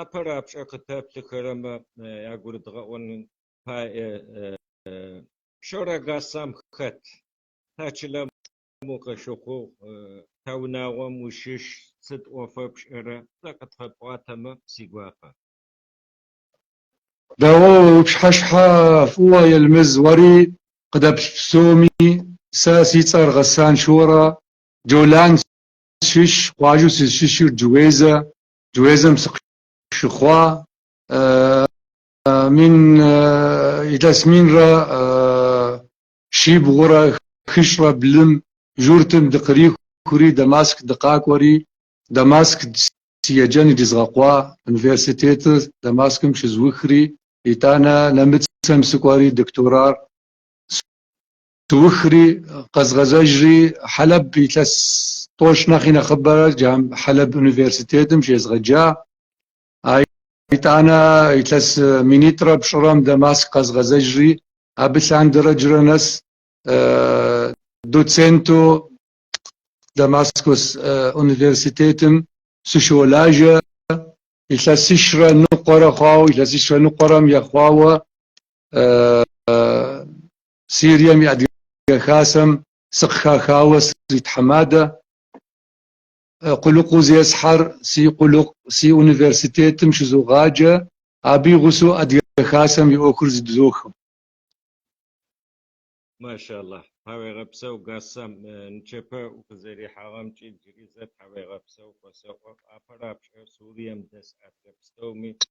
Апэрэ пшӏэ къытэплъыхэрэмэ ягурыдгъэӏонэу пае Шорэ Гасан хэт? Та чылэм укъыщыхъугъ, та унагъуэм ущыщ, сыт ӏуэфэ пшӏэрэ? Сэ къысфэпӏуатэмэ, си гуапэ. Дэгъуэ уи пщыхьэщхьэ фӏыуэ, Илмаз, уэри къыдэплъ псоми, сэ си цӏэр Гасан Шорэ, Джолан сыщыщ, къуажэу сызыщыщыр Джуезэ, Джуезэм сыкъыщыхъуа, мин илъэс минрэ щибгъурэ хыщӏрэ блым журтым дыкърахури, Дамаск дыкъэкӏуэри, Дамаск си еджэн иризгъэкъуа, университетыр Дамаскым щызухри, итӏанэ нэмыцэм сыкӏуэри докторар Сыухри, къэзгъэзэжри, Хьэлэб илъэс тӏощӏ нэхъи нэхъыбэрэ джам Хьэлэб университетым щезгъэджа. А итӏанэ илъэс минитӏрэ пщӏырэм Дамаск къэзгъэзэжри, абы лъандэрэ джыри нэс доценту Дамаскус университетым сыщолажэ. Илъэсищрэ ныкъуэрэ хъуауэ, илъэсищрэ ныкъуэрэ мэхъуауэ Сирием и Адыгэ Хасэм сыкъыхахауэ сритхьэмадэ, къулыкъуу зесхьэр си къулыкъу, си университетым щызогъаджэ, абы и гъусэу Адыгэ Хасэм и ӏуэхур зыдохьэ. Машалла, тхьэуегъэпсэу Гасан, нычэпэ укъызэрихьагъэмкӏэ джыри зэ тхьэуегъэпсэу осэӏо, апэрапшӏэ Сурием дэс адыгэ пстэуми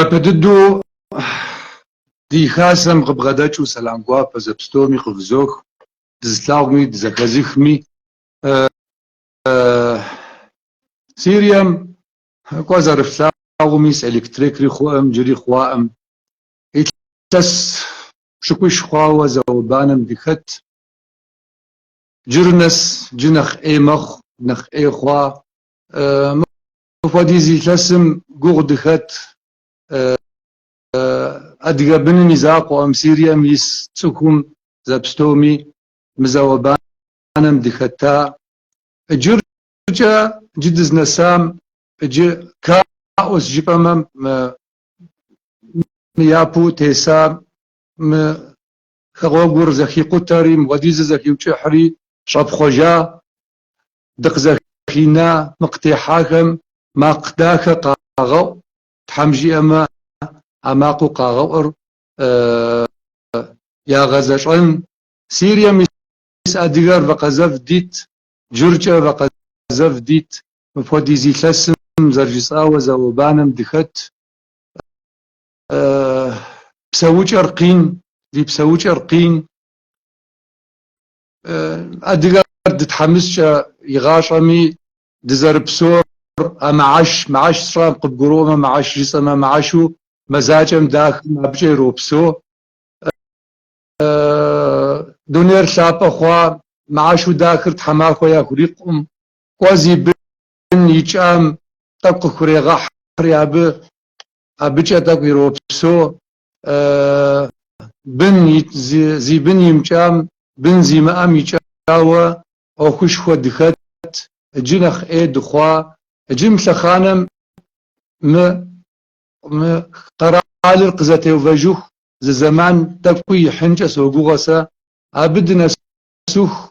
Япэ дыдэу ди Хасэм къыбгъэдэкӏыу сэлам гуапэ зэпстоуми къывызох, дызылъагъуми, дызэхэзыхми. Сирием кӏуэ зэрыфлъагъуми, электрикри хъуӏым, джыри хъуаӏым. Илъэс пщыкӏуищ хъуауэ зауэ-банэм дыхэт. Джыр нэс джы нэхъ ӏей мэхъу, нэхъ ӏей хъуа. Мыпхуэдиз илъэсым гугъу дыхэт адыгэ быным и закъуэӏым, Сирием ис цӏыхум зэпстоми мы зауэ-банэм дыхэта. Джыркӏэ джы дызнэсам джы хаос жыпӏэмэ мы япэу тесам мы хэгъуэгур зэхикъутэри, мыпхуэдизыр зэхиукӏыхьри щӏэпхъуэжа дыкъызэхина мы къытехьахэм макъ дахэ къагъэӏу, тхьэм жиӏэмэ а макъыу къагъэӏур ягъэзэщӏэн, Сирием ис адыгэр вакъэзэв дит, джыркӏэ вакъэзэв дит, мыпхуэдиз илъэсым зэрыжысӏауэ зауэ-банэм дыхэт, псэукӏэр къин, ди псэукӏэр къин. Адыгэр дытхьэмыскӏэ игъащӏэми, дызэрыпсор а мыхьэш, мыхьэш сщӏам, къыбгурыӏуэмэ мыхьэш, жысӏэмэ мыхьэшу мазакӏэм дахым абыкӏэ иропсо. Дунейр лъапӏэ хъуа мыхьэшу дахыр тхьэмахуэ яхурикъукъым, кӏуэ зи бын икӏам тӏэкӏу къыхурегъэхьри абы, абыкӏэ тӏэкӏу иропсо. бын зи бын имыкӏам, бын зимыӏэм икӏауэ ӏуэхушхуэ дыхэт, иджы нэхъ ӏей дыхъуа, иджы мы лъэхъанэм мы къэралыр къызэтеувэжыху зы зэман тӏэкӏуи ихьынкӏэ согугъэ сэ, абы дынэсыху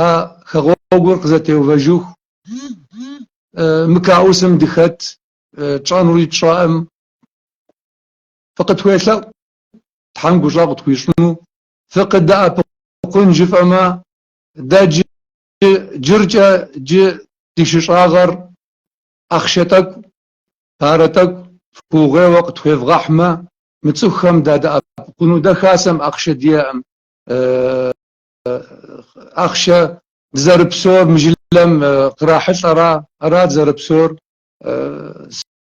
а хэгъуэгур къызэтеувэжыху мы каусым дыхэт, тщӏэнури тщӏэӏым. Фыкъытхуелъэӏу, Тхьэм гущӏэгъу къытхуищӏыну фыкъыдэӏэпыкъун жыфӏэмэ, дэ джы джыркӏэ джы ди щыщӏагъэр ахъшэ тӏэкӏу, парэ тӏэкӏу фыугъуейуэ къытхуевгъэхьмэ, мы цӏыхухэм дадэӏэпыкъуну дэ хасэм ахъшэ диӏэӏым, ахъшэ дызэрыпсор мы жылэм кърахьылӏэра, ара дызэрыпсор,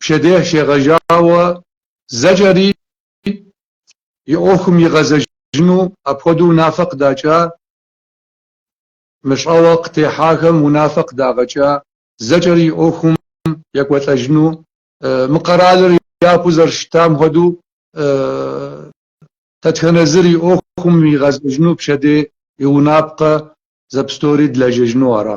пщэдей щегъэжьауэ зэкӏэри и ӏуэхум игъэзэжыну апхуэдэу унафэ къыдакӏа, мы щӏэуэ къытехьахэм унафэ къыдагъэкӏа зэкӏэри и ӏуэхум екӏуэлӏэжыну, мы къэралыр япэу зэрыщытам хуэдэу дэтхэнэ зыр и ӏуэхум игъэзэжыну пщэдей и унапкъэ зэпстори дылэжьэжыну ара?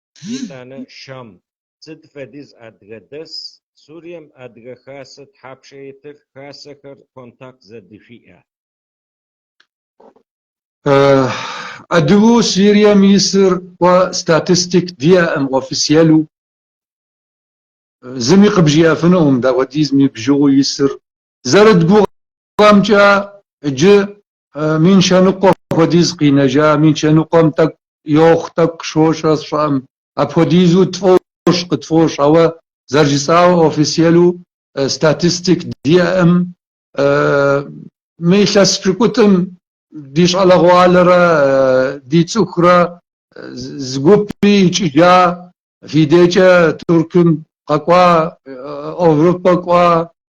Итӏанэ Шам, сыт фэдиз адыгэ дэс? Сурием Адыгэ Хасэ тхьапшэ итыр? Хасэхэр контакт зэдышъуиӏэ? Адыгэу Сурием исыр къо статистик диӏэӏым официелу. Зыми къыбжиӏэфынуӏым дауэдизми бжыгъэу исыр Зэрыдгугъэмкӏэ джы мин щэныкъуэ хуэдиз къинэжа, мин щэныкъуэм тӏэкӏу йохъу, тӏэкӏу щощӏэ сщӏэӏым. Апхуэдизу тфӏощӏ, къытфӏощӏ, ауэ зэрыжысӏауэ официелу статистик диӏэӏым. Мы илъэс пщыкӏутӏым ди щӏалэгъуалэрэ ди цӏыхурэ зы гупи икӏыжа, фи дейкӏэ Туркым къэкӏуа, Овропэ кӏуа,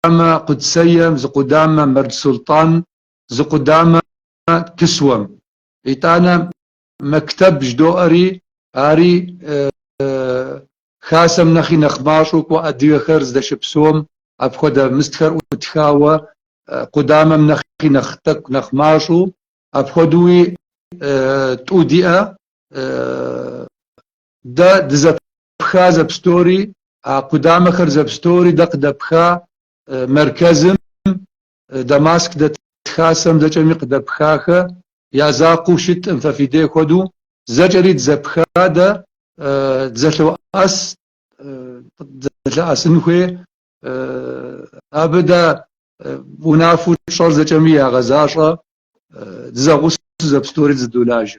къудамэ Къудсеем, зы къудамэ Мэрдж Султӏан, зы къудамэ Кысуэм. Итӏанэ мэктэб жыдоӏэри, ари Хасэм нэхъи нэхъ мащӏэу кӏуэ адыгэхэр здэщыпсэум апхуэдэ мыстхэр ӏутхауэ, къудамэм нэхъи нэхъ тӏэкӏу нэхъ мащӏэу, апхуэдэуи тӏу диӏэ, Дэ дызэпха зэпстори, а къудамэхэр зэпстори дэ къыдэпха мэркэзым, Дамаск дэт хасэм зэкӏэми къыдэпхахэ, я закъуэу щытӏым, фэ фи дей хуэдэу зэкӏэри дызэпха дэ, дызэлъоӏэс, дызэлъэӏэсын хуей, абы дэ унафэу тщӏэр зэкӏэми ягъэзащӏэ, дызэгъусэу зэпстори дызэдолажэ.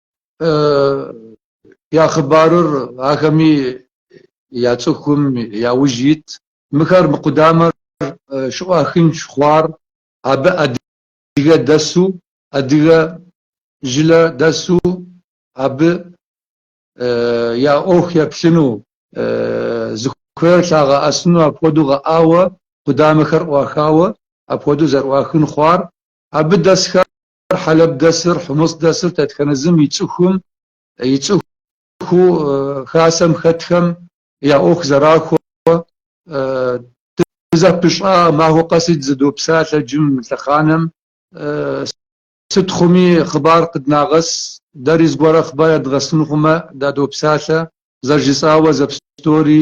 я хъыбарыр ахэми я цӏыхум я ужь ит. Мыхэр мы къудамэр щыӏуахын щӏэхъуар, абы адыгэ дэсу, адыгэ жылэ дэсу абы я ӏуэху еплъыну, зыхуейр лъагъэӏэсыну апхуэдэу гъэӏауэ къудамэхэр ӏуахауэ апхуэдэу зэрыӏуахын хъуар, абы дэсхэр Хьэлэб дэсыр, Хьумыс дэсыр дэтхэнэ зым и цӏыхум, и цӏыху хасэм хэтхэм я ӏуэху зэрахуэ, дызэпыщӏа махуэ къэси дызэдопсалъэ джым, лъэхъанэм. Сыт хъуми хъыбар къыднагъэс, дэри зыгуэрэ хъыбар ядгъэсын хъумэ, дадопсалъэ, зэрыжысӏауэ зэпстори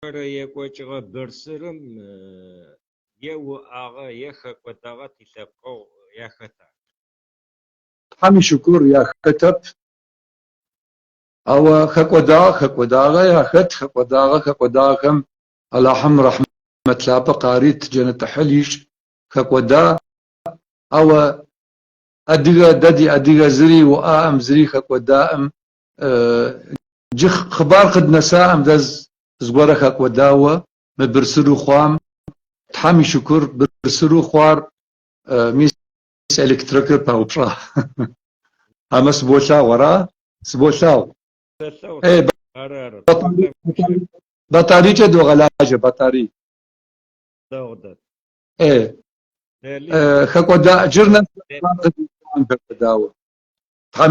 Къырекӏуэкӏыгъэ бырсырым е уӏэгъэ, е хэкӏуэдэгъэ тилъэпкъэгъу яхэта? Тхьэм и шыкур яхэтэп. Ауэ хэкӏуэдагъэ хэкӏуэдагъэ яхэт, хэкӏуэдагъэ хэкӏуэдагъэхэм Алахьым рэхьмэт лъапӏэ къарит, джэнэт ӏыхьыл ищӏ, хэкӏуэда. Ауэ адыгэ, дэ ди адыгэ зыри уӏаӏым, зыри хэкӏуэдаӏым, Джы хъыбар къыднэсаӏэм дэ зыгуэрэ хэкӏуэдауэ мы бырсыру хъуам Тхьэм и шыкур, бырсыру хъуар мис электрикыр паупщӏа. Амэ сыболъагъу, ара? Сыболъагъу. Ей, батарейкӏэ догъэлажьэ, батарей. Ей, хэкӏуэда, джыр нэс хъыбар къыднэсаӏэм хэкӏуэдауэ Тхьэм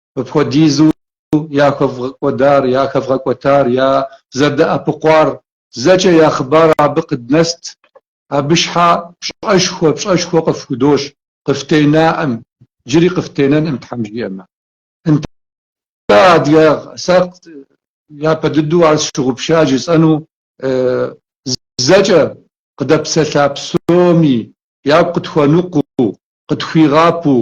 Апхуэдизу яхэвгъэкӏуэдар, яхэвгъэкӏуэтар, я зэдэӏэпыкъуар, зэкӏэ я хъыбар абы къыднэст, абы щхьа пщӏэшхуэ, пщӏэшхуэ къыфхудощӏ, къыфтенаӏым, джыри къыфтенэнӏым, Тхьэм жиӏэмэ. Нтӏэ, адыгэ сэ япэ дыдэу ар сщыгъупща жысӏэну, зэкӏэ къыдэпсэлъа псоми, ягу къытхуэныкъуу, къытхуигъапэу,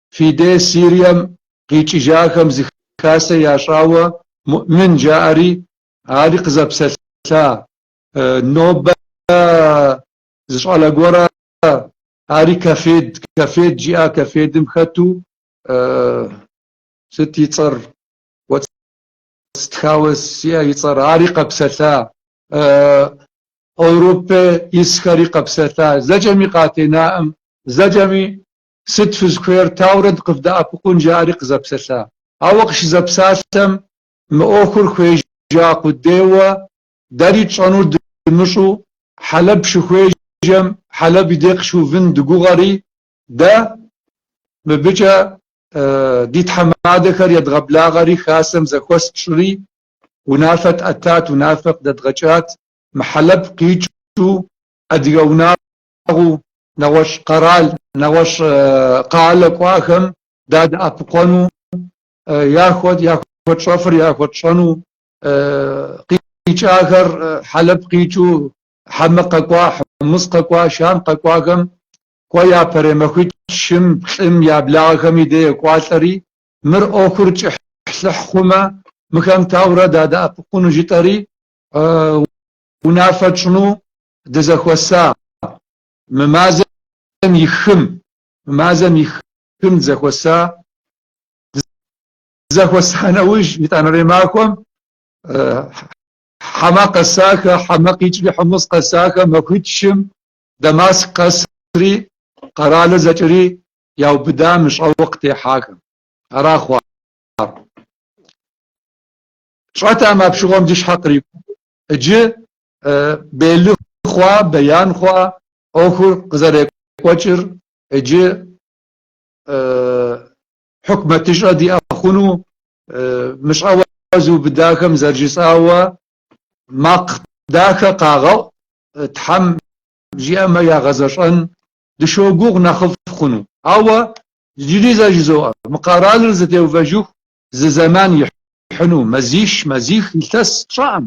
Фи де Сирием къикӏыжахэм зы хасэ ящӏауэ Муӏмин жаӏэри, ари къызэпсэлъа нобэ зы щӏалэ гуэрэ, ари Кафед, Кафед жиӏа Кафедым хэту, сыт и цӏэр, уэ стхауэ сиӏэ и цӏэр, ари къэпсэлъа, Еуропэ исхэри къэпсэлъа, зэкӏэми къатенаӏым, зэкӏэми Сыт фызыхуейр, таурэ дыкъывдэӏэпыкъун, жаӏэри къызэпсэлъа. Ауэ къыщызэпсалъэм, мы ӏуэхур хуежьа къудейуэ, дэри тщӏэнур дымыщӏу, Хьэлэб щыхуежьэм, Хьэлэб и дей къыщыувын дыгугъэри, дэ мыбыкӏэ ди тхьэмадэхэр едгъэблагъэри, Хасэм зэхуэс тщӏри, унафэ тӏэтат, унафэ къыдэдгъэкӏат. Мы Хьэлэб къикӏыу адыгэ унагъуэ Нэгъуэщӏ къэрал, нэгъуэщӏ къалэ кӏуахэм дадэӏэпыкъуэну, яхуэтщӏэфыр яхуэтщӏэну, къикӏахэр Хьэлэб къикӏыу Хьэмэ къэкӏуа, Хьумыс къэкӏуа, Шам къэкӏуахэм кӏуэ япэрей махуитӏ щым, плӏым я благъэхэм и де екӏуалӏэри, мыр ӏуэхур кӏыхьлӏыхь хъумэ, мыхэм таурэ дадэӏэпыкъуну жытӏэри, унафэ тщӏыну дызэхуэса, мы мазэм и хым, мы мазэм и хым дызэхуэса, дызэхуэса нэужь, итӏанэрей махуэм Хьэмэ къэсахэ, Хьэмэ къикӏри Хьумыс къэсахэ махуитӏ щым, Дамаск къэсри, къэралыр зэкӏэри яубыда мы щӏэуэ къытехьахэм. Ара хъуар. Тщӏэтэм апщыгъуэм ди щхьэ кърикӏуэу, иджы белы хъуа, беян хъуа ӏуэхур къызэрекӏуэкӏыр иджы хьукмэтыщӏэ диӏэ хъуну мыщӏэуэ зыубыдахэм зэрыжысӏауэ макъ дахэ къагъэӏу Тхьэм жиӏэмэ ягъэзэщӏэн дыщогугъ нэхъыфӏ хъуну. Ауэ иджыри зэ жызоӏэ, мы къэралыр зэтеувэжыху зы зэман ихьыну, мазищ, мазих илъэс сщӏэӏым.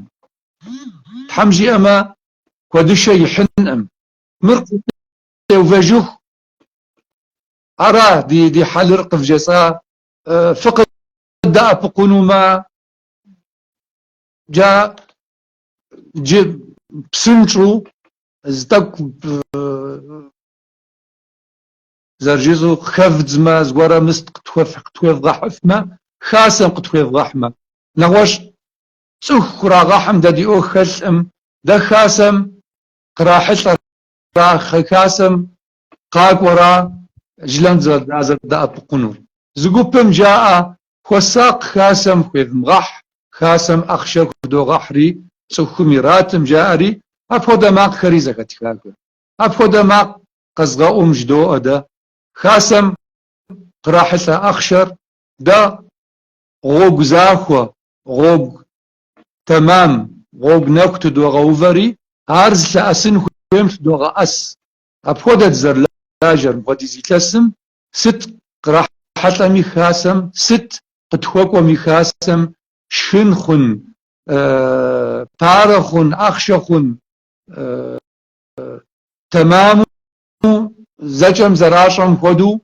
Тхьэм жиӏэмэ, куэдышэ ихьынӏым. Мыр къытеувэжыху. Ара ди хьэлыр къывжесӏа? Фыкъыддэӏэпыкъунумэ, джа джы псынщӏу зы тӏэкӏу зэрыжызу къыхэвдзмэ, зыгуэрэ мыст къытхуевгъэхьыфмэ, хасэм къытхуевгъэхьмэ. Нэгъуэщӏ цӏыху кърагъэхьым дэ ди ӏуэху хэлъӏым, дэ хасэм кърахьылӏэра, хасэм къакӏуэра жылэм дызэрыдэӏэпыкъунур. Зы гупым жаӏэ, Хуэсакъ хасэм хуевмыгъэхь, хасэм ахъшэ худогъэхьри цӏыхум иратым, жаӏэри, апхуэдэ макъхэри зэхэтха, кӏуэ. Апхуэдэ макъ къэзгъэӏум жыдоӏэ дэ. Хасэм кърахьылӏэ ахъшэр дэ гъуэгу захуэ, гъуэгу тэмам, гъуэгу нэху тыдогъэувэри, ар зылъэӏэсын хуейм лъыдогъэӏэс. Апхуэдэ дызэрылажьэр мыпхуэдиз илъэсым, сыт кърахьэлӏэми хасэм, сыт къытхуэкӏуэми хасэм, шхын хъун, парэ хъун, ахъшэ хъун, тэмэму зэкӏэм зэращӏэм хуэдэу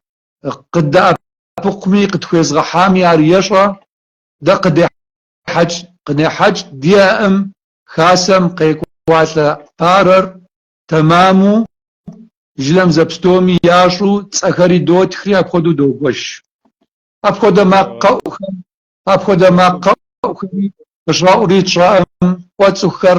къыддэӏэпыкъуми, къытхуезгъэхьами ар ещӏэ, дэ къыдехьэкӏ, къынехьэкӏ диӏэӏым. Хасэм къекӏуалӏэ парэр тэмэму жылэм зэпстоми ящӏу цӏэхэри дотхри апхуэдэу догуэш. Апхуэдэ макъ къэӏухэм, апхуэдэ макъ къэӏухэми къыщӏэӏури тщӏэӏым, кӏуэ цӏыхухэр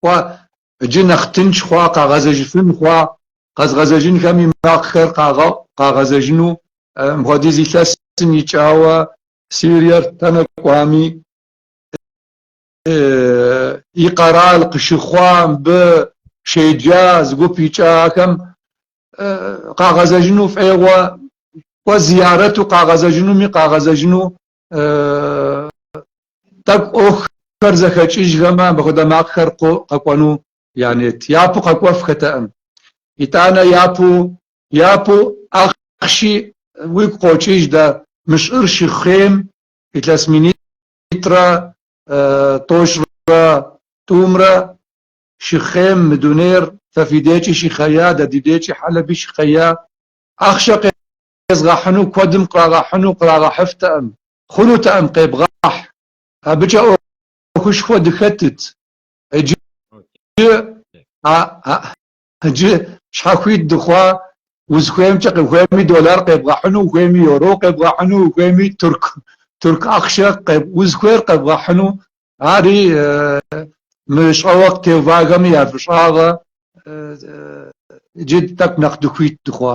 хъуа иджы нэхъ тынш хъуа, къагъэзэжыфын хъуа, къэзгъэзэжынхэм и макъхэр къагъэӏу, къагъэзэжыну мыпхуэдиз илъэсым икӏауэ Сириер тэнэ кӏуами, и къэрал къыщыхъуа, мыбы щеджа зы гуп икӏахэм къагъэзэжыну фӏегъуэ, кӏуэ зиярэту къагъэзэжынуми къагъэзэжыну тӏэкӏу ӏуэхухэр зэхэкӏыжхэмэ, абы хуэдэ макъхэр къу къэкӏуэну я нет. Япэу къэкӏуэф хэтэӏым. Итӏанэ япэу, япэу ахъши уигу къокӏыж дэ, мы щӏыр щыхъейм илъэс минитӏрэ тӏощӏрэ тӏумрэ щыхъейм мы дунейр фэ фи декӏи щыхъея, дэ ди декӏи Хьэлэби щыхъея, ахъшэ къезгъэхьыну куэдым кърагъэхьыну кърагъэхьыфтэӏым, хъунутэӏым къебгъэхь. Абыкӏэ ӏуэхушхуэ дыхэтыт, иджы иджы щхьэхуит дыхъуа, узыхуеймкӏэ, къыхуейми доллар къебгъэхьыну, ухуейми йоро къебгъэхьыну, ухуейми турк турк ахъшэ узыхуейр къебгъэхьыну, ари мы щӏэуэ къытеувахэми я фӏыщӏагъэ, иджы тӏэкӏу нэхъ дыхуит дыхъуа.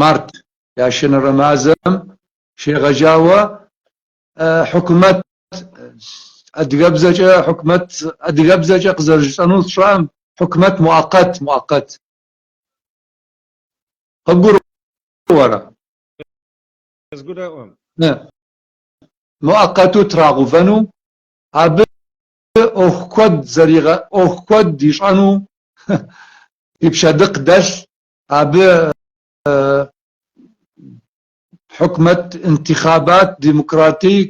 март ящэнэрей мазэм щегъэжауэ хьукумэт адыгэбзэкӏэ хьукумэт адыгэбзэкӏэ къызэрыжысӏэну сщӏэӏым хьукумэт муакъэт муакъэт къыбгурыӏуэрэ къызгуроӏуэ муакъэту трагъэувэну абы ӏуэху куэд зэригъэ ӏуэху куэд ищӏэну и пщэдыкъ дэлъ Абы хьукумэт, интихъабат, демократик,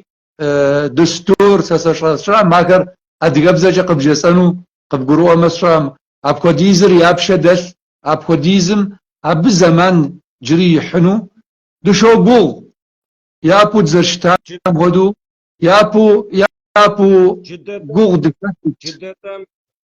дустур сэ сщӏэ сщӏэӏым, ахэр адыгэбзэкӏэ къыбжесӏэну къыбгурыӏуэмэ сщӏэӏым. Апхуэдизыр я пшэ дэлъ, апхуэдизым абы зэман джыри ихьыну дыщогугъ. Япэу дызэрыщытам хуэдэу, япэу, япэу гугъу дыхэтыт.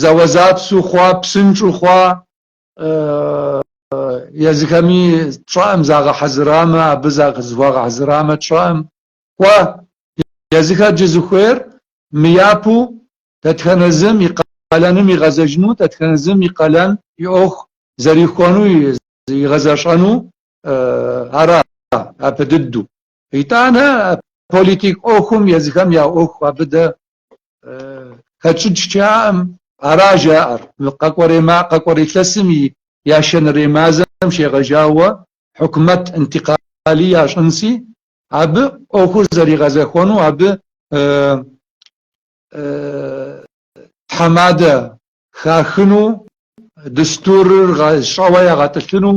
зэуэзэпсу хъуа, псынщӏу хъуа, езыхэми тщӏэӏым загъэхьэзырамэ, абы за зыхуагъэхьэзырамэ тщӏэӏым. Кӏуэ, езыхэр джы зыхуейр мы япэу дэтхэнэ зым и къалэным игъэзэжыну, дэтхэнэ зым и къалэн и ӏуэху зэрихуэну, игъэзэщӏэну ара, апэ дыдэу. Итӏанэ политик ӏуэхум езыхэм я ӏуэху абы дэ хэтщӏыкӏ щыӏэӏым, ара жаӏэр, мы къэкӏуэрей илъэсым и ящэнэрей мазэм щегъэжауэ хьукумэт интикъали ящӏынси, абы ӏуэхур зэригъэзэхуэну абы тхьэмадэ хахыну, дустурыр щӏэуэ ягъэтӏылъыну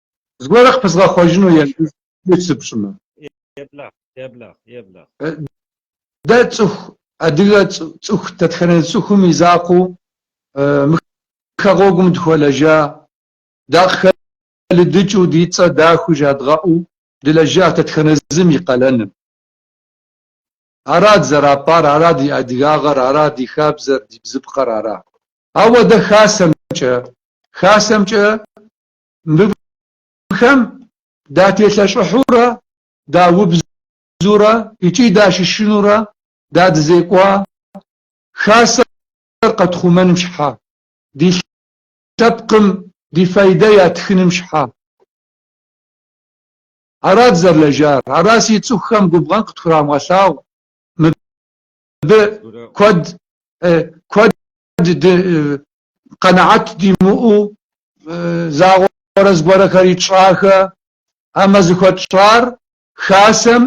Зыгуэрыр къыпызгъэхъуэжыну езым хуит сыпщӏмэ. Еблэгъ, еблэгъ, еблэгъ. Дэ цӏыху, адыгэ цӏыху, дэтхэнэ цӏыхум и закъуэу мы хэгъуэгум дыхуэлэжа, дакъыхэлыдыкӏыу, ди цӏэ дахэу жадгъэӏэу дылэжьа дэтхэнэ зым и къалэным. Ара дызэрапӏар, ара ди адыгагъэр, ара ди хабзэр, ди бзыпкъэр ара. Ауэ дэ хасэмкӏэ, хасэмкӏэ Мыбыхэм дателъэщӏыхьурэ, даубзурэ икӏи дащышынурэ дадызекӏуа Хасэр къэтхъумэным щхьа, ди лъэпкъым ди файдэ ятхыным щхьа. Ара дызэрылэжьар, ара си цӏыхухэм губгъэн къытхурамыгъэлъагъу, мыбы куэд, куэд къэнэхьэт димыӏэу загъуэрэ зыгуэрхэри тщӏахэ, амэ зыхуэтщӏар Хасэм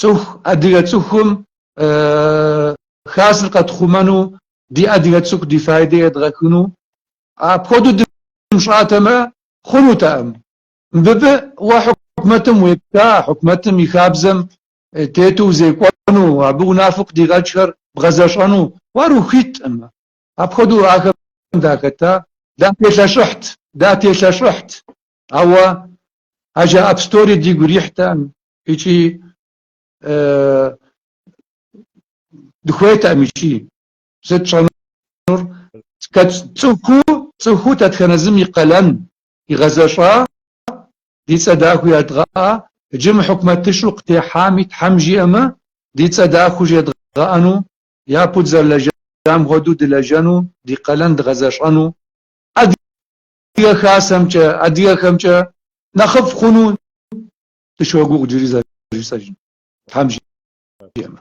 цӏыху адыгэ цӏыхум Хасэр къэтхъумэну, ди адыгэ цӏыху ди файдэ едгъэхыну. Апхуэдэу дымыщӏатэмэ, хъунутэкъым. Мыбы уэ хьукумэтым уепха, хьукумэтым и хабзэм тету узекӏуэну, абы унафэ къыдигъэкӏхэр бгъэзэщӏэну, уэ ар ухуиткъым. Апхуэдэу ахэм дахэта. Дателъэщӏыхьт, дателъэщӏыхьт, ауэ а жаӏэ псори дигу ирихьтэкъым икӏи дыхуейтэкъым икӏи. Сыт тщӏэнур? Цӏыхуу, цӏыхуу дэтхэнэ зым и къалэн, Игъэзэщӏа, ди цӏэ дахэу ядгъэӏа, иджы мы хьукумэтыщӏу къытехьами Тхьэм жиӏэмэ, ди цӏэ дахэу жедгъэӏэну, япэу дызэрылэжьам хуэдэу дылэжьэну, ди къалэн дгъэзэщӏэну, Адыгэ Хасэмкӏэ, адыгэхэмкӏэ нэхъыфӏ хъуну дыщогугъ джыри зэ, джыри зэ, Тхьэм жиӏэмэ.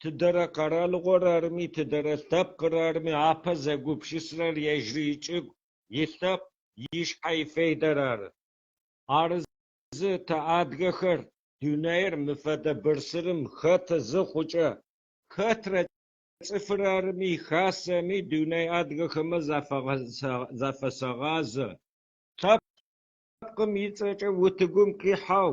Тыдэрэ къэралыгъуэр арми, тыдэрэ лъэпкъыр арми, апэ зэгупшысэрэр ежьри икӏыгу, и лъэпкъ, и щхьэ и фейдэр ары. Арызы, тэ адыгэхэр, дунейр мы фэдэ бырсырым хэты зыхъукӏэ. Хэтрэ цӏыфыр арми, хасэми, дуней адыгэхэмэ зафэсэгъазэ. Лъэпкъым и цӏэкӏэ утыгум къихьэу,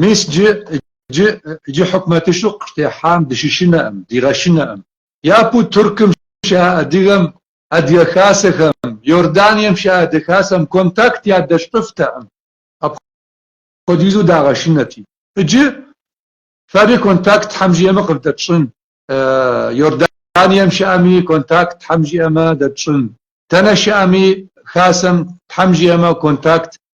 Мис иджы хьукмэтыщу къыщытехьам дыщышынэкъым, дигъэшынэкъым. Япэу Туркым щыӏэ адыгэм, Адыгэ Хасэхэм, Иорданием щыӏэ Адыгэ Хасэм контакт ядэщӏыфтэкъым, апхуэдизу дагъэшынэти. Иджы фэри контакт Тхьэм жиӏэмэ къыфдэтщӏын, Иорданием щыӏэми контакт Тхьэм жиӏэмэ дэтщӏын, дэнэ щыӏэми Хасэм Тхьэм жиӏэмэ контакт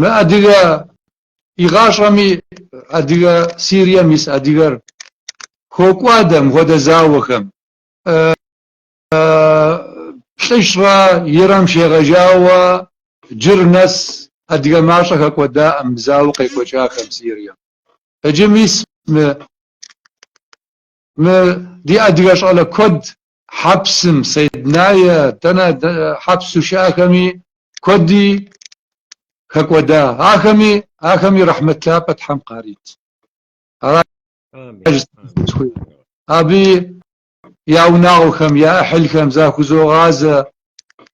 Мы адыгэ игъащӏэми адыгэ Сирием ис адыгэр хокӏуадэ мыхуэдэ зауэхэм. Плӏыщӏрэ ирэ гъэм щегъэжауэ джыр нэс адыгэ мащӏэ хэкӏуэдаӏым мы зауэ къекӏуэкӏахэм Сирием. Иджы мис мы ди адыгэ щӏалэ куэд хьэпсым, Сэйднае, дэнэ хьэпсу щыӏэхэми куэди хэкӏуэда. Ахэми, ахэми рэхьмэт лъапӏэ Тхьэм къарит. Амин. Абы я унагъуэхэм, я ӏыхьылхэм захузогъазэ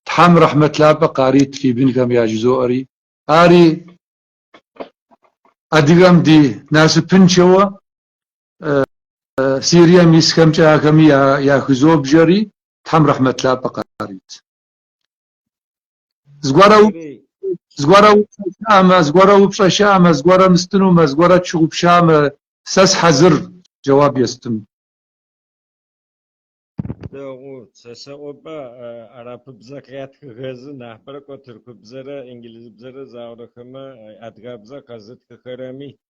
Тхьэм рэхьмэт лъапӏэ къарит фи бынхэм яжызоӏэри. Ари адыгэм ди насыпыншэуэ Сирием исхэмкӏэ ахэми яхызобжэри, Тхьэм рэхьмэт лъапӏэ къарит. Зыгуэрэ упщӏэ, зыгуэрэ упщӏэ щыӏэмэ, зыгуэрэ мыстынумэ, зыгуэрэ тщыгъупщамэ, сэ схьэзыр джэуап естын. Дэгъу, сэ сэӏопӏэ, арапыбзэ къятхыхэзы нахьыбэрэ кӏо тыркубзэрэ, инджылызыбзэрэ заурэхэмэ адыгабзэ къэзытхыхэрэми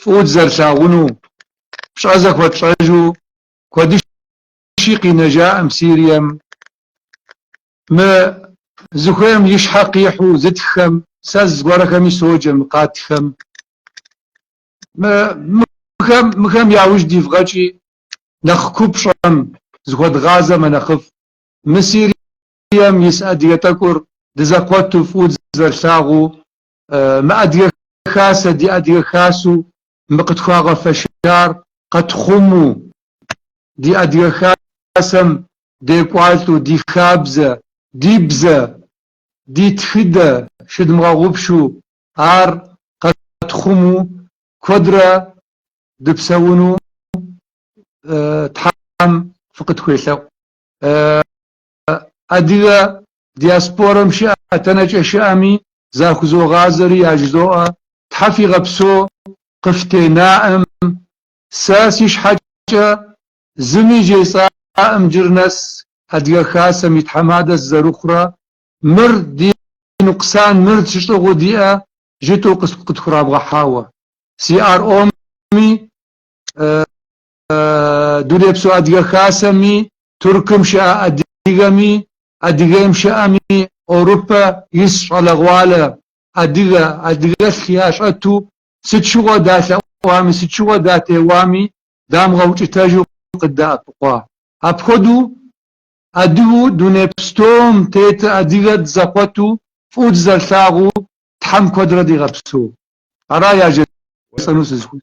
фӏыуэ дызэрылъагъуну, пщӏэ зэхуэтщӏэжу куэдыщи къинэжаӏым Сирием. Мы зыхуейм и щхьэ къихьу зытххэм, сэ зыгуэрхэми соджэ мы къатхэм. Мыхэм, мыхэм яужь дивгъэкӏи, нэхъ купщӏэм зыхуэдгъазэ мэнэхъыфӏ. Мы Сирием ис адыгэ тӏэкӏур дызэкъуэту фӏыуэ дызэрылъагъуу Мы Адыгэ Хасэ, ди Адыгэ Хасэу мы къытхуагъэфэщар къэтхъумэу, ди Адыгэ Хасэм декӏуалӏэу, ди хабзэ, ди бзэ, ди тхыдэ щыдмыгъэгъупшу ар къэтхъумэу куэдрэ дыпсэуну Тхьэм фыкъытхуелъэӏу. Адыгэ диаспорэм щыӏэхэ тэнэкӏэ щыӏэми захузогъазэри яжызоӏэ, Тхьэ фигъэпсэу къыфтенаӏым, сэ си щхьэкӏэ зыми жесӏаӏым джыр нэс Адыгэ Хасэм и тхьэмадэ сызэрыхъурэ, мыр ди нукъсан, мыр тщыщӏыгъуу диӏэ жытӏу къытхурамыгъэхьауэ. CRO-ми, Дунейпсо Адыгэ Хасэми, Туркым щыӏэ адыгэми, Адыгейм щыӏэми, Орупэ ис щӏалэгъуалэ адыгэ, адыгэлъ ящӏэту сыт щыгъуэ далъэӏуами, сыт щыгъуэ датеуами дамыгъэукӏытэжу къыддэӏэпыкъуа. Апхуэдэу адыгэу дуней пстэум тетыр адыгэ дызэкъуэту, фӏыуэ дызэрылъагъуу Тхьэм куэдрэ дигъэпсэу. Ара яжесӏэну сызыхуейр.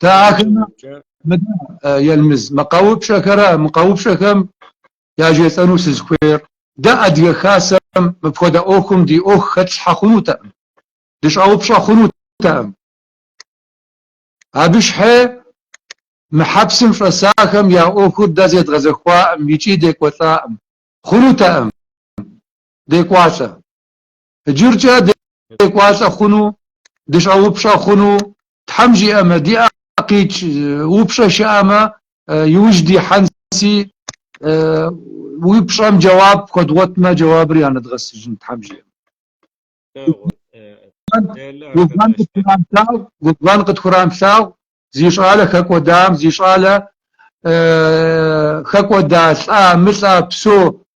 Тэ ахэмэ Елмыз мы къэупщӏэхэра мы къэупщӏэхэм яжесӏэну сызыхуейр, дэ Адыгэ Хасэм мыпхуэдэ ӏуэхум ди ӏуэху хэтлъхьэ хъунутэкъым, дыщӏэупщӏэ хъунутэкъым. Абы щхьэи мы хьэпсым щӏэсахэм я ӏуэхур дэ зэдгъэзэхуакъым икӏи декӏуэлӏакъым, хъунутэкъым декӏуалӏэ. Иджыркӏэ декӏуалӏэ хъуну, дыщӏэупщӏэ хъуну, Тхьэм жиӏэмэ, ди ӏэ къикӏ, упщӏэ щыӏэмэ, иужь дихьэнси, упщӏэм джэуап хуэдгъуэтмэ, джэуабыр янэдгъэсыжын, Тхьэм жиӏэмэ. Губгъэн къытхурамылъагъу зи щӏалэ хэкӏуэдам, зи щӏалэ хэкӏуэда лӏа-мылӏа псэу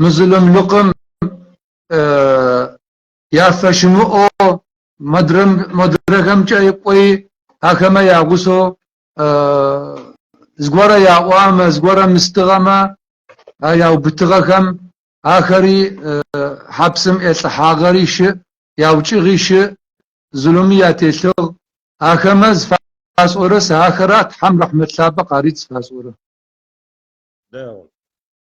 Мы зулумлыкъым яфэщымыӏэу модрэхэмкӏэ кӏуэи, ахэмэ я гъусэу зыгуэрэ яӏуамэ, зыгуэрэ мыстыгъэмэ, а яубытыгъэхэм ахэри хьэпсым илӏыхьагъэри щыӏ, яукӏыгъи щыӏ, зулуми ятелъыгъ. Ахэмэ зыфасӏорэ сэ ахэр а Тхьэм рэхьмэт лъапӏэ къарит зыфасӏорэ. Дэгъу.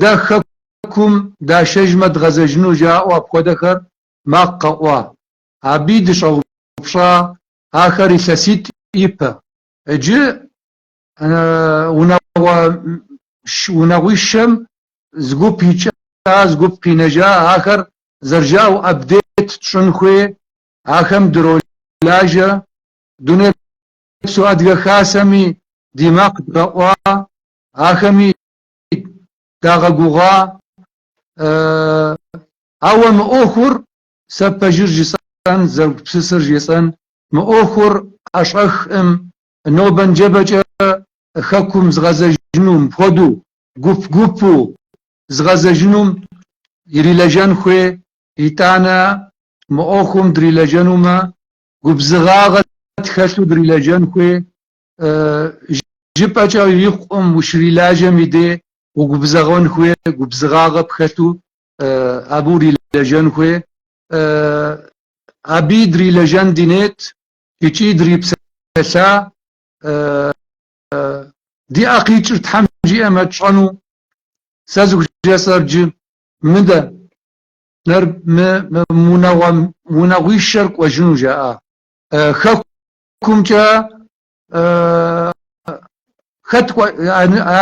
Дэ Хэкум дашэжмэ дгъэзэжыну жаӏэу апхуэдэхэр макъ къэӏуа. Абыи дыщӏэупщӏа ахэр илъэситӏ ипэ. Иджы унагъуищэм зы гуп икӏа, зы гуп къинэжа ахэр зэрыжаӏэу апдейт тщӏын хуей, ахэм дыролажэ. Дунейпсо Адыгэ Хасэми ди макъ дгъэӏуа, ахэми дагъэгугъа, ауэ мы ӏуэхур сэ пэжыр жысӏэн, зэгупсысыр жысӏэн, мы ӏуэхур ӏэщӏэхӏым, нобэ-нджэбэкӏэ хэкум зыгъэзэжыну, мыпхуэдэу гуп-гупу зыгъэзэжынум ирилэжэн хуей, итӏанэ мы ӏуэхум дрилэжэнумэ, губзыгъагъэ тхэлъу дрилэжэн хуей, Жыпӏэкӏэ икъукъым ущрилажьэм и дей угубзыгъэн хуей, губзыгъагъэ пхэлъу абы урилэжьэн хуей. Абы дрилэжьэн ди нет икӏи дрипсэлъа. Ди ӏэ къикӏыр Тхьэм жиӏэмэ тщӏэну сэ зыхужысӏэр джы мыдэ, нэр мы унагъуэ, унагъуищэр кӏуэжыну жаӏа. Хэку Кумкӏэ хэт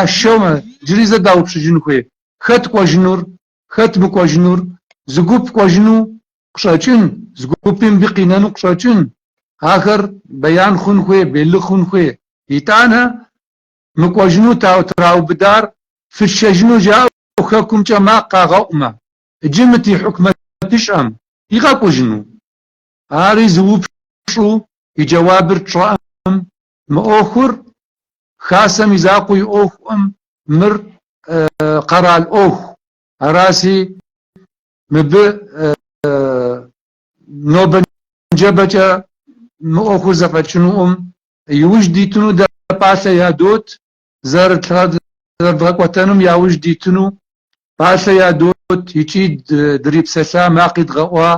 ашэумэ, джыри зэ даупщӏыжын хуей, хэт кӏуэжынур, хэт мыкӏуэжынур, зы гуп кӏуэжыну къыщӏэкӏын, зы гупи мыбы къинэну къыщӏэкӏын, ахэр беян хъун хуей, белы хъун хуей. Итӏанэ мы кӏуэжыну траубыдар фытшэжыну жаӏэу Хэкумкӏэ макъ къагъэӏумэ, иджы мы ди хьукмэтыщӏэм игъэкӏуэжыну? Ари зы упщӏу и джэуабыр тщӏэӏым, мы ӏуэхур Хасэм и закъуэ и ӏуэхуӏым, мыр къэрал ӏуэху, араси мыбы нобэ нджэбэкӏэ мы ӏуэхур зэфӏэкӏынуӏым, иужь дитыну дэ пӏалъэ ядот, зэрыдгъэкӏуэтэнум яужь дитыну пӏалъэ ядот икӏи дрипсэлъа макъи дгъэӏуа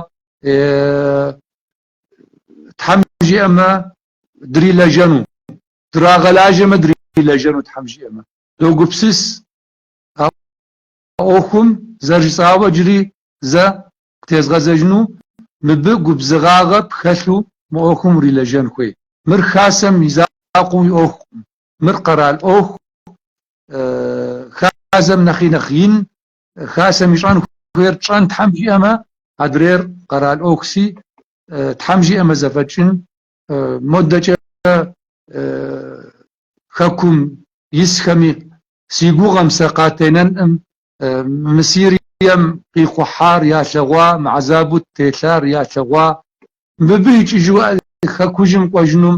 Тхьэм жиӏэмэ дрилэжьэну, драгъэлажьэмэ дрилэжьэну Тхьэм жиӏэмэ. Догупсыс а ӏуэхум зэрыжысӏауэ иджыри зэ къытезгъэзэжыну, мыбы губзыгъагъэ пхэлъу мы ӏуэхум урилэжьэн хуей. Мыр Хасэм и закъуэу и ӏуэхукъым, Мыр къэрал ӏуэху, хасэм нэхъи нэхъ ин, хасэм ищӏэн хуейр тщӏэн Тхьэм жиӏэмэ, адрейр къэрал ӏуэхуси, Тхьэм жиӏэмэ зэфӏэкӏын, модэкӏэ Хэкум исхэми, си гугъэм сэ къатенэнӏым, мы Сирием къихъухьар ялъэгъуа, мы гьэзабу ттелъар ялъэгъуа, мыбы икӏыжу Хэкужьым кӏуэжынум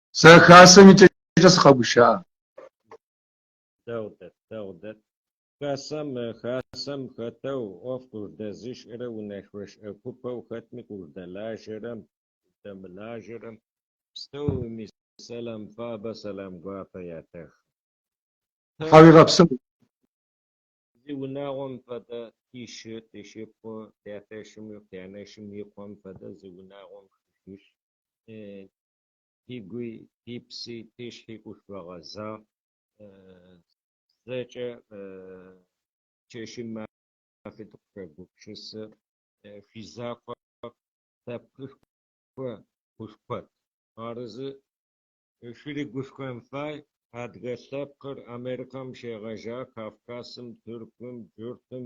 Сэ Хасэм и цӏэкӏэ сыкъэгушыӏэ. Дэгъу дэт, дэгъу дэт. Хасэм, Хасэм хэтэу ӏуэф къыждэзышӏэрэ унэшъуэшӏэ купэу хэтми къыждэлажэрэ, къыждэмылажэрэ, пстэуми сэлам фабэ, сэлам гуапэ ятэхым. Тхьэуегъэпсэу. Зи унагъуэм фэдэ тишы, тишипхъу, тятэшым, тянэшым и къуэм фэдэ зи унагъуэм хыжыщ. Ди гуи, ди пси, ди щхьи къышфэгъэзагъ. Зэкӏэ чэшым мафи дыкъыхуегупшысыр. Фи закъуэ лъэпкъышхуэ къышкъуэт. Арызы, шыри гушхуэн фай. Адыгэ лъэпкъыр Америкэм щегъэжауэ, Кавказым, Тыркум, Джуртым,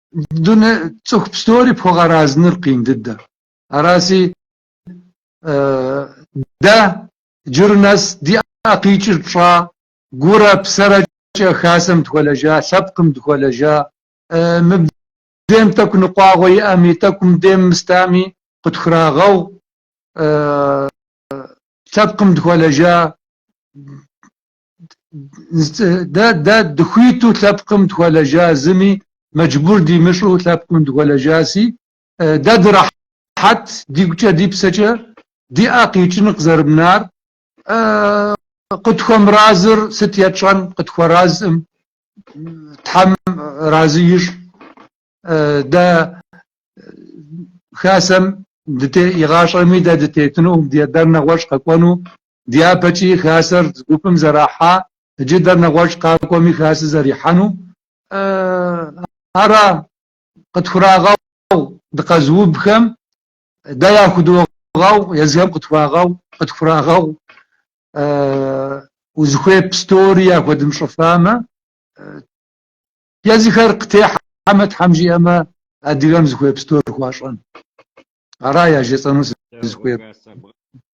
Дуней цӏыху пстори пхуэгъэразыныр къин дыдэ. Араси дэ джыр нэс ди ӏэ къикӏыр тщӏа, гурэ псэрэкӏэ хасэм дыхуэлэжа, лъэпкъым дыхуэлэжа, мыбдейм тӏэкӏу ныкъуагъуэ иӏэми, тӏэкӏу мыбдейм мыстами, къытхурагъэгъу, лъэпкъым дыхуэлэжа, дэ дэ дыхуиту лъэпкъым дыхуэлэжа зыми мэджбур димыщӏу лъэпкъым дыхуэлэжаси, дэ дырахьэт дигукӏэ ди псэкӏэ, ди ӏэ къикӏын къызэрымынар, къытхуэмыразыр сыт етщӏэн, къытхуэразым, Тхьэм разы ищӏ, дэ Хасэм дыте, игъащӏэми дэ дытетыну, дэ нэгъуэщӏ къэкӏуэну, Дяпэкӏи хасэр зы гупым зэрахьа джыдэр нэгъуэщӏ къакӏуэми хасэ зэрихьэну ара къытхурагъэгъу дыкъэзыубхэм, дэ яхудогъэгъу, езыхэм къытхуагъэгъу, къытхурагъэгъу узыхуей пстори яхуэдымщӏыфамэ, езыхэр къытехьэмэ, Тхьэм жиӏэмэ, адыгэм зыхуей пстор хуащӏэн. Ара яжесӏэну сызыхуейр.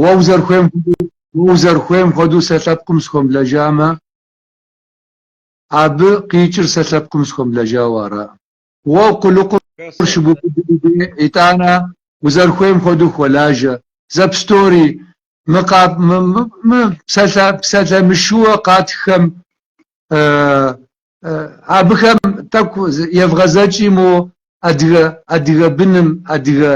Уэ узэрыхуейм хуэдэу, уэ узэрыхуейм хуэдэу сэ лъэпкъым схуэмылэжамэ, абы къикӏыр сэ лъэпкъым схуэмылэжауэ ара? Уэ къулыкъур щыбубыдым дей, итӏанэ узэрыхуейм хуэдэу хуэлажьэ. Зэ пстори, мы къап, мы, мы, мы псалъэ, псалъэ мышыууэ къатххэм Абыхэм тӏэкӏу евгъэзэкӏи мо адыгэ адыгэ быным, адыгэ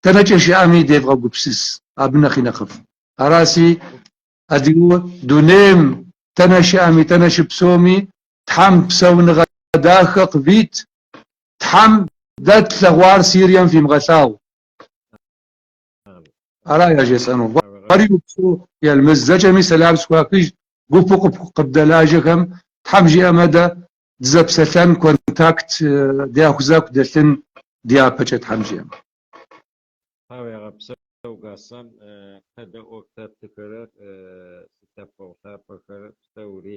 тэнэкӏэ щыӏэми девгъэгупсыс, абы нэхъи нэхъыфӏ. Араси, адыгэу дунейм тэнэ щыӏэми, тэнэ щыпсэуми Тхьэм псэуныгъэ дахэ къывит, Тхьэм дэ тлъэгъуар Сирием фимыгъэлъагъу. Ара яжесӏэну? Уэри упсэу, Елмэз, зэкӏэми сэлам схуахыж, гупу къып къыбдэлажьэхэм, Тхьэм жиӏэмэ, дэ дызэпсэлъэн, контакт дяхузаку дэлъын дяпэкӏэ, Тхьэм жиӏэмэ. Тхьэуегъэпсэу, Гаслан, пэдэӏуэху лъэпкъхэрэ лъэпкъэгъу лъапӏэхэрэ псэури.